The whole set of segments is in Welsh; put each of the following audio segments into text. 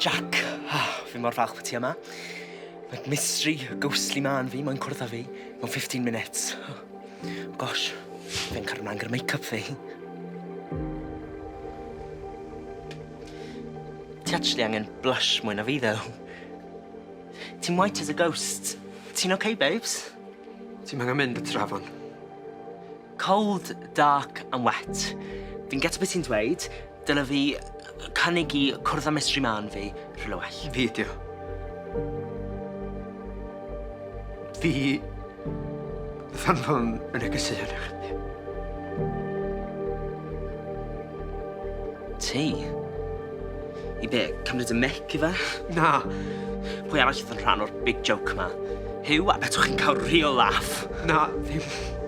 Jack, ah, fi mor falch bod ti yma. Mae'r mystery, y ghostly ma yn fi, mae'n cwrdd â fi, mewn 15 minutes. Gosh, fe'n cario mlaen gyda make-up fi. Ti actually angen blush mwy na fi, ddew. Ti'n white as a ghost. Ti'n okay, babes? Ti'n angen mynd y trafon. Cold, dark and wet. Fi'n getio beth ti'n dweud, dyle fi cynnig i cwrdd â mystery man fi rhywle well. Fi ydi o. Fi... Fan hwn yn y gysylltiad â chdi. Ti? I be, cymryd y mic i fe? Na. Pwy arall oedd yn rhan o'r big joke ma? Huw, a betwch chi'n cael real laugh? Na, ddim.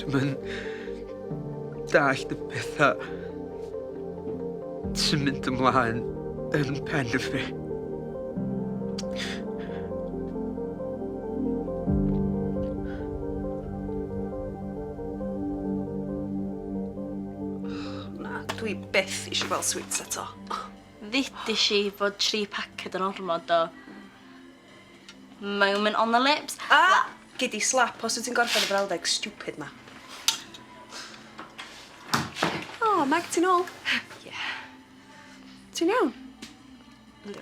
Dwi'm yn dallt y petha sy'n mynd ymlaen yn pen y fi. Na, dwi byth eisiau gweld sweets eto. Ddudish i fod tri paced yn ormod do. Moment on the lips. A! Gei di slap os wyt ti'n gorffen y frawddeg stupid 'ma. O, Meg, ti'n ôl? Ie. Ti'n iawn? Yndw.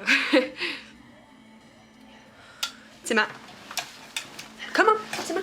Ti 'ma. Come on, ti 'ma.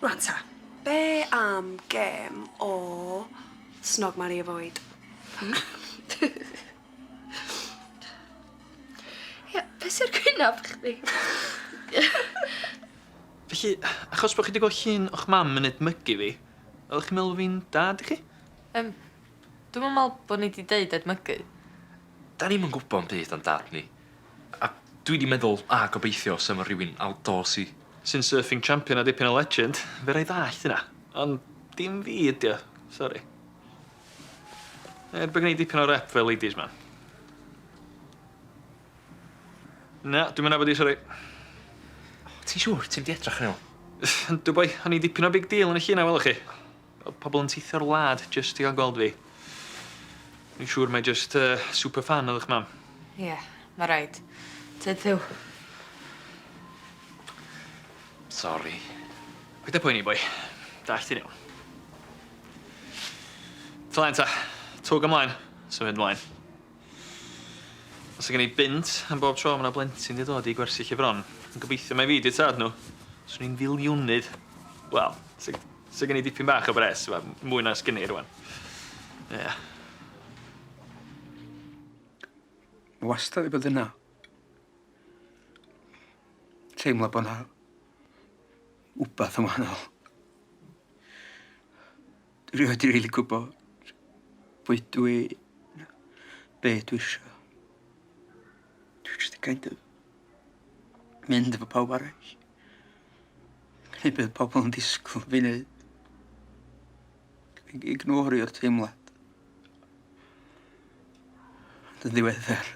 Rwan ta, be' am gêm o snog mari avoid? Hmm? Ie, be' sy ar gwynab chdi? Felly, achos bo' chi 'di gwel' llun o'ch mam yn edmygu fi, oddech chi'n meddwl bo' fi'n dad i chi? Yym, dwi'm yn me'wl bo' ni 'di deud edmygu. 'Dan ni'm yn gwbo 'm byd am dad ni. A dwi 'di meddwl, a gobeithio, sa fo rhywun outdoorsy. Sy'n surfing champion a dipyn o legend, fedra i ddallt hynna. Ond dim fi ydi o, sori. Er bo' gen i dipyn o rep fel ladies man. Na, dwi'm yn nabod 'i, sori. Ti'n siŵr ti'm 'di edrach arno fo? Yndw boi, o'n i'n dipyn o big deal yn y llun 'na welwch chi. Oedd pobl yn teithio'r wlad jyst i gael gweld fi. Dwi'n siŵr mae jyst yy super fan oedd 'ych mam. Ie, ma' raid. Tyd Huw. Sori. Paid â poeni boi. Dallt ti'n iawn. Tŷ laen ta. Twg ymlaen. Symud mlaen. Os gen i bunt am bob tro ma' 'na blentyn 'di dod i gwersyll i fron, yn gobeithio mai fi 'di'r tad nhw, swn i'n filiwnydd. Wel, sa sa gen i dipyn bach o bres, wel, mwy na sgen i rŵan. Ie. Ma' wastad 'di bod yna. Teimlo bo' 'na wbath yn wahanol. Rydw wedi rili gwybod pwy dwi, be dwi eisiau. Dwi eisiau di kind of mynd efo pawb arall. Gwneud beth pobl yn disgwyl fi wneud. Ignorio'r teimlad. Ond yn ddiweddar.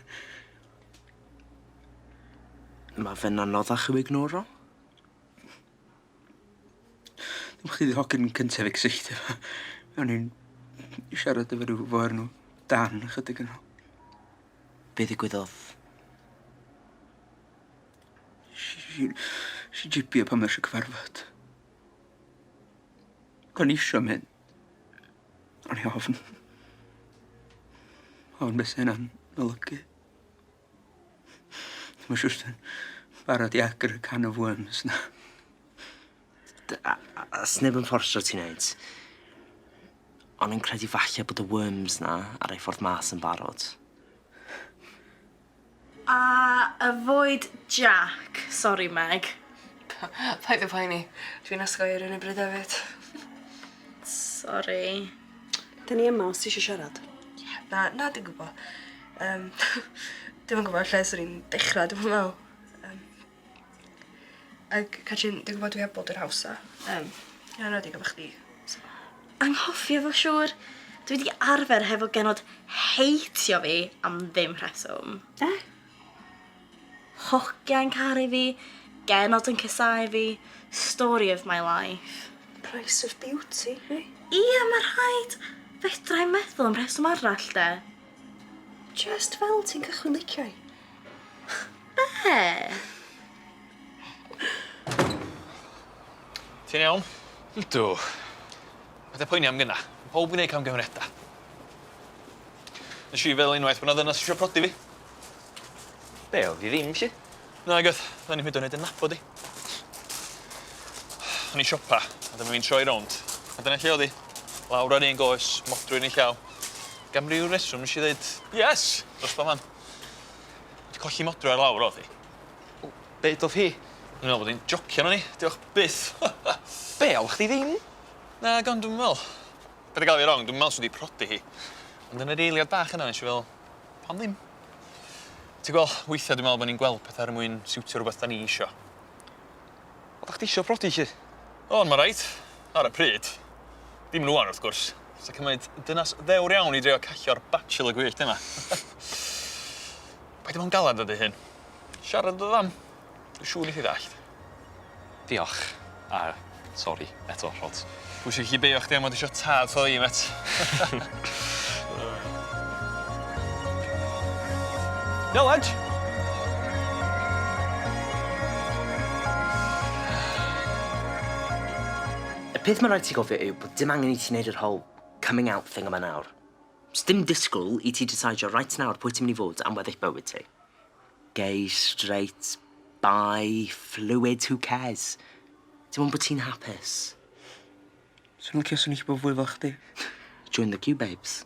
Mae fe'n anoddach i'w ignoro. Dwi'n chdi di hogyn cynta fi cysylltu efo. O'n i'n siarad efo rhyw fo o'r enw Dan ychydig yn ol. Be ddigwyddodd? Si- si jipio pan mae eisiau cyfarfod. O'n i isio mynd. O'n i ofn. Ofn be' sa hynna'n olygu. Ddim yn siŵr os dwi'n barod i agor y can of worms 'na. D- a- a- a- sneb yn fforsio ti neud. O'n i'n credu falle bod y worms 'na ar eu ffordd mas yn barod. A avoid Jack. Sori Meg. Paid â poeni. Dwi'n osgoi ar yr un o bryd efyd. Sori. Dyn ni yma os ti eisiau siarad. Yeah, na, na, dwi'n gwybod. Um, dwi'n yn gwybod lle sy'n i'n dechrau, dwi'n meddwl. Um, ac, Catrin, dwi'n gwybod dwi heb bod yr hawsa. Um, yn anodig efo chdi. So. Anghofio fo siwr. Dwi wedi arfer hefo genod heitio fi am ddim rheswm. Eh? Hogia yn caru fi, genod yn casáu fi, story of my life. Price of beauty fi. Ia ma rhaid! Fedrai'm meddwl am rheswm arall de. Jyst fel ti'n cychwyn licio i. Be? Ti'n iawn? Yndw. Paid â poeni am gynna. Pawb yn neud camgymeriada. Nesh i feddwl unwaith bo 'na ddynas isio prodi fi. Be' odd 'i ddim 'lly? Nag odd. O'n i'm hyd yn oed yn nabod 'i. O'n i'n siopa a dyma fi'n troi rownd a dyna lle odd 'i. Lawr ar un goes, modrwy yn 'i llaw. Ac am ryw reswm nesh i ddeud yes! Dros ba man. Wedi colli modrwy ar lawr odd 'i. O, be' udodd hi? O'n i'n me'wl bod 'i'n jocio arno ni. Diolch byth. Be' oddach chdi ddim? Nag ond dwi'm yn me'wl. Paid â ga'l fi rong dwi'm yn me'wl sa 'di prodi hi. Ond yn yr eiliad bach yna nesh i fe'wl Pam ddim? Ti gwel', weithia' dwi me'wl bo' ni'n gweld petha er mwyn siwtio rwbeth 'dan ni isio. Oddach chdi isio prodi 'lly? O'n ma' reit. Ar y pryd. Dim yn ŵan wrth gwrs. Sa cymaint dynas ddewr iawn i drio callio'r bachelor gwyllt yma. Paid â bo' yn galad ar dy hun. Siarad â dy fam. Dwi siŵr nes i ddallt. Diolch. A sori eto Rhods. Dwi isio gallu beio chdi am fod isio tad tho fi mêt. Iawn lads. Y peth ma' raid ti gofio yw bod dim angen i ti neud yr whole coming out thing yma nawr. Sdim disgwl i ti diseidio reit nawr pwy ti myn' i fod am weddill bywyd ti. Gay straight bi fluid who cares? Dim ond bo' ti'n hapus. Swn i'n licio swn i'n gallu bod fwy fel chdi. Join the queue babes.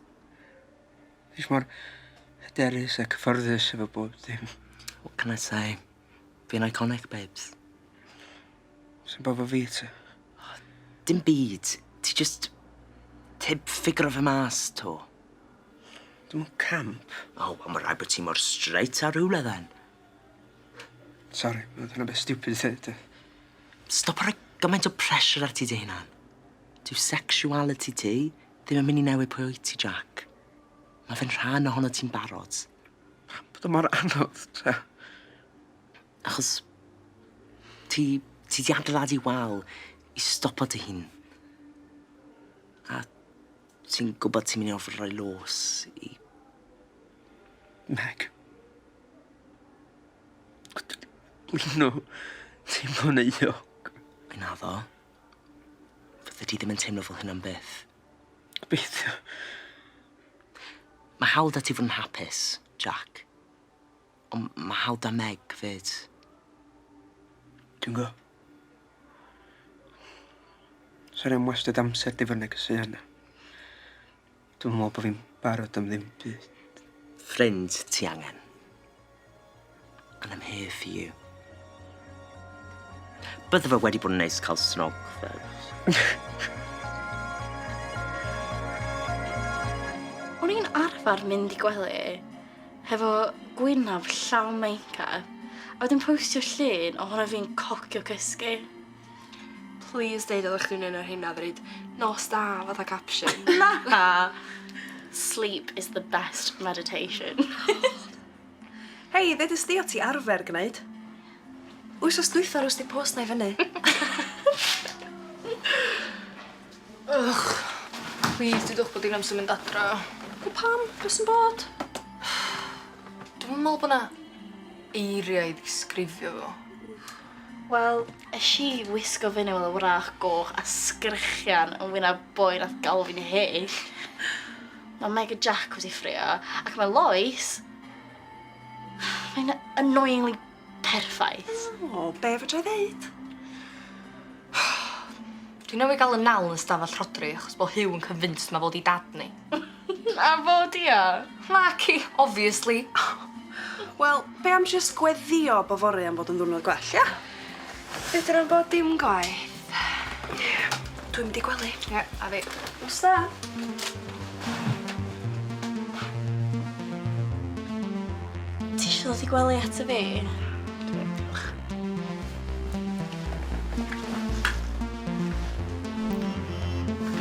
Fi jys mor hyderus a cyffyrddus efo bob dim. What can I say? Fi'n iconic babes. Sa'm byd 'fo fi tŷ. Dim byd. Ti jyst tib ffigyro fe mas 'to. Dim ond camp. O wel ma' raid bo' ti mor straight â rywle then. Sori ma' dyna beth stupid i ddeud yy. Stopa roi gymaint o pressure ar ti dy hunan. Dyw sexuality ti ddim yn myn' i newid pwy wyt ti Jack. Ma' fe'n rhan ohonot ti'n barod. Pam bod o mor anodd te? Achos ti ti di adeiladu wal i stopo dy hun. A Ti'n gwbod ti myn' i orfod roi lôs i Meg. O dw- dwi ddim yn teimlo'n euog. Naddo. Fyddi di ddim yn teimlo fel hyn am byth. Gobeithio. Ma' hawl 'da ti fod yn hapus, Jac. Ond ma' hawl 'da Meg 'fyd. Dwi'n gw'o'. Sori am wastad amser di fod neges i Anna. Dwi'm yn me'wl bo' fi'n barod am ddim byd. Ffrind ti angen. And I'm here for you. Bydde fe wedi bod yn neis ca'l snog fe. O'n i'n arfar mynd i gwely hefo gwynaf llawn meincap, a wedyn postio llun ohono fi'n cocio cysgu. Please deud oeddech chdi'n un o'r rheina ddweud nos da fatha caption. Na! Sleep is the best meditation. Hei, ddedys di o ti arfer gwneud. Wythnos dwytha rhoes di post na i fyny. Ych! Plîs dudwch bod hi'n amser mynd adra. Wel pam? Be sy'n bod? Dwi'm yn meddwl bod 'na eiriau i ddisgrifio fo. Wel, es i wisgo fyny fel y wrach goch a sgrechian yn wyneb boi nath galw fi'n hyll. Mae Meg a Jack wedi ffrio, ac mae Lois... Mae'n annoyingly Perffaith. O, be' fedrai ddeud? Dwi newydd ga'l 'yn nal yn y stafell rhodri achos bo' Huw yn convinced ma' fo 'di dad ni. A fo 'di o? Naci, obviously. Wel, be' am jyst gweddio bo' fory am fod yn ddwrnod gwell, ia? Fedran bo' dim gwaeth. Dwi'n mynd i gwely. Ie, a fi. Nos da. Ti isio dod i gwely ato fi? Dwi am, diolch.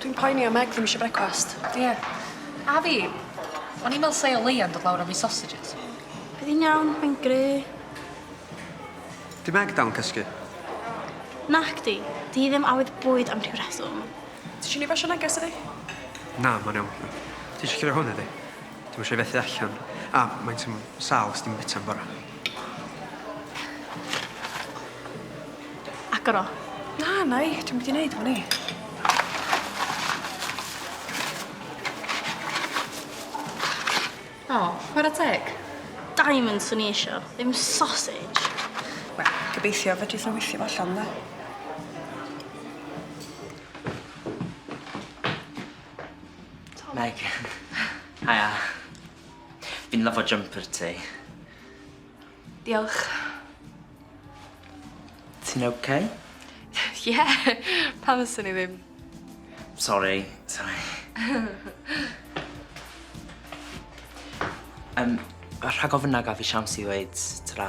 Dwi'n poeni am Meg ddim isio brecwast. Ie. A fi. O'n i'n me'wl sa 'i o leia'n dod lawr a fi sausages. Bydd 'i'n iawn, mae'n gry'. 'Di Meg dal yn cysgu? Nacdi. 'Di hi ddim awydd bwyd am rhyw reswm. Tisio ni basio neges iddi? Na, ma'n iawn. Tisio curo hwn iddi? Dwi'm isio i fethu allan. A, maent yn sâl os dim bita'n bora. Agor o. Na, nai, dwi'm wedi neud hwn i. O, chwara teg. Diamond swn i isio, ddim sausage. Wel, gobeithio fedrith nhw weithio fo allan, 'de? Tom. Meg. Haia. Fi'n lyfo jumper ti. Diolch. Ti'n oce? Okay? Ie, yeah, pam fyswn i ddim. Sori, sori. um, rhag ofyn na gaf i siawns i ddweud tra.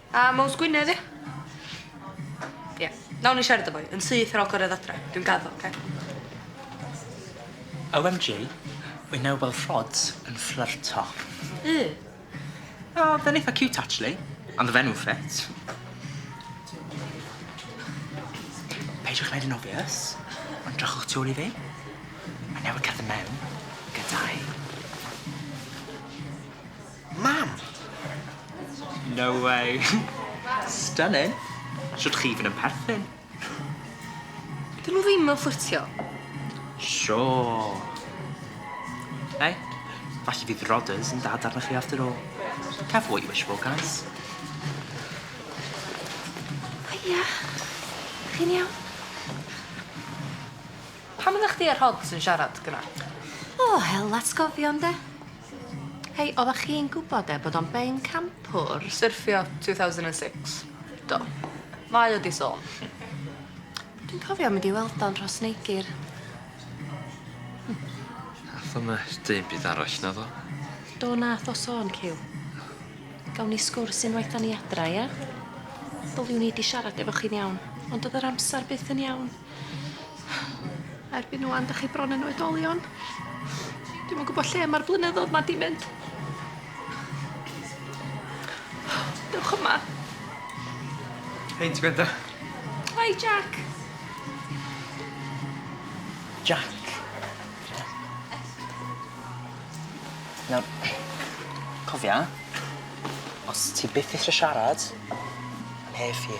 A Mowz Gwynedd ia? Ia. Nawn ni siarad efo 'i yn syth ar ol cyrredd adra. Dwi'n gaddo oce? OMG wy newydd weld Rhods yn fflyrto. U. O fe'n eitha ciwt actually. Ond y fenyw ffit. Peidiwch neud yn obvious ond drychwch tu ol i fi. Mae newydd cerdded mewn gyda'i... Mam! No way. Stunning. Shwt chi fyn yn perthyn. Dyn nhw ddim yn fflyrtio. Sure. Hey, falle fydd Rodders yn dad arna chi after all. Careful what you wish for, guys. Hiya. Chi'n iawn? Pam oddach chdi a Rhods yn siarad gynna? O hel, atgofion 'de? Hei, oddach chi'n gwbod e, bod o'n ben campwr? Syrffio 2006? Do. Mae o 'di sôn. Dwi'n cofio mynd i weld o'n Rhos Neigyr. Nath o'm yy deu 'im arall naddo? Do nath o sôn Cyw. Gawn ni sgwrs unwaith 'dan ni adra ia? Ddyliwn i 'di siarad efo chi'n iawn, ond do'dd yr amsar byth yn iawn. Erbyn ŵan, dych chi bron yn oedolion. Dwi'm yn gwybod lle mae'r blynyddoedd ma' 'di mynd. Dewch yma. Hei, ti'n gwrando? Hi, Jack. Jack. Nawr, cofia, os ti byth isie siarad, 'nai ffi.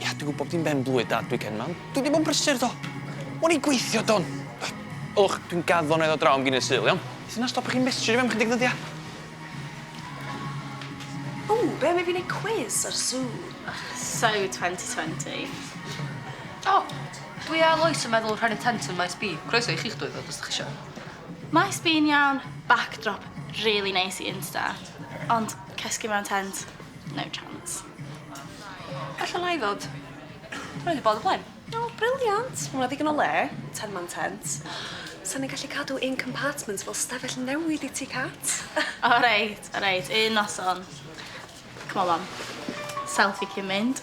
Ia, dwi'n gwybod bod hi'n ben-blwydd Dad weekend 'ma, ond dwi wedi bod yn brysur, do. O'n i'n gweithio, do, ond... Ylwch, dwi'n gaddo na'i ddod draw am ginio Sul, iawn? Sut na stopio chi mestrio fi am chydig ddyddia'? O, be' am i fi neud cwis ar Sue? Ych, so twenty twenty. O, dwi a Lois yn meddwl rhannu tent yn Maes B. Croeso i chi'ch dwy ddod os 'dach chi isio. Maes B'n iawn, backdrop rili neis i Insta, ond cysgu mewn tent? No chance. Gallwn lai ddod. Dwi wedi bod o blaen. O, briliant. Ma' 'na ddigon o le. Ten man tent. Sa ni'n gallu cadw un compartment fel stafell newid i ti, Cat. O reit, o reit. Un noson. C'mon, mam. Self i cyn mynd.